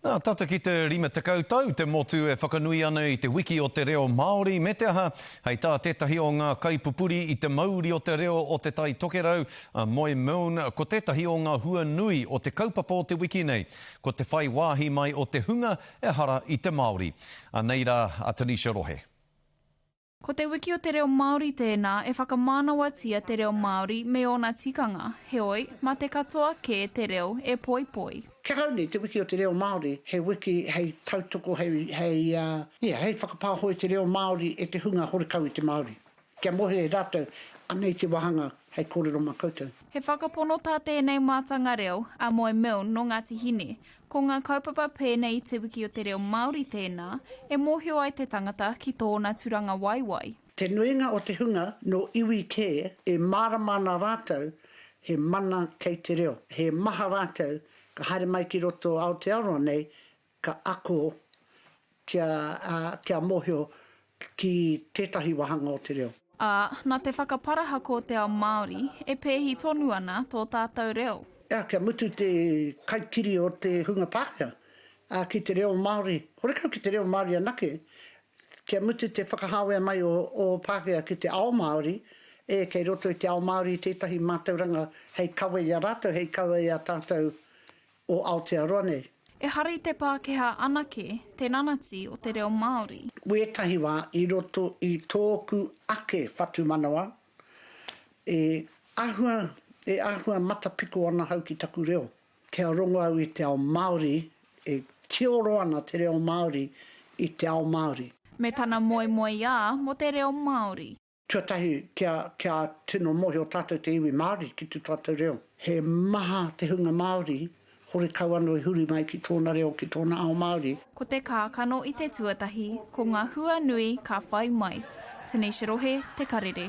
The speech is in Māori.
Nā, tata ki te 50 tau te motu e whakanui ana i te wiki o te reo Māori, me te aha, hei tā tētahi o ngā kaipupuri i te mauri o te reo o Te Tai Tokerau, a Moy Milne, ko tētahi o ngā hua nui o te kaupapa o te wiki nei, ko te whai wāhi mai o te hunga ehara i te Māori. Anei rā a Tanisha Rohe. Ko Te Wiki o te Reo Māori tēnā e whakamānawatia te reo Māori me ōna tikanga, heoi, mā te katoa kē te reo e poipoi. Kia kau nei Te Wiki o te Reo Māori he wiki hei tautoko, hei, hei, ia, hei whakapāho i te reo Māori e te hunga horekau i te Māori. Kia mohe e rātou, anei te wāhanga hei kōrero mā koutou. He whakapono tā tēnei mātanga reo, a Moe Milne nō Ngāti Hine, Ko ngā kaupapa pēnei i Te Wiki o te Reo Māori tēnā e mōhio ai te tangata ki tōna turangawaewae. Te nuinga o te hunga nō iwi kē e mārama ana rātou he mana kei te reo. He maha rātou ka haere mai ki roto o Aotearoa nei ka ako Kia, ā, kia mōhio ki tētahi wāhanga o te reo. Ā, nā te whakaparahako o te ao Māori, e pēhi tonu ana tō tātou reo. Ā, kia mutu te kaikiri o te hunga Pākehā, ā, ki te reo Māori, horekau ki te reo Māori anake, kia mutu te whakahāwea mai o ō Pākehā ki te ao Māori, ē, kei roto i te ao Māori tētahi mātauranga hei kawe i a rātou, hei kawe i a tātou o Aotearoa nei. Ehara i te Pākehā anake te nanati o te reo Māori. Wētahi wā i roto i tōku ake whatumanawa, e ahua, e ahua matapiko ana hau ki taku reo. Kia rongo au i te ao Māori, e tioro ana te reo Māori i te ao Māori. Me tana moemoeā mo te reo Māori. Tuatahi, kia, kia tino mōhio tātou te iwi Māori ki tū tātou reo. He maha te hunga Māori, horekau anō i huri mai ki tōna reo, ki tōna ao Māori. Ko te kākano i te tuatahi, ko ngā hua nui ka whai mai. Tanisha Rohe, Te Karere.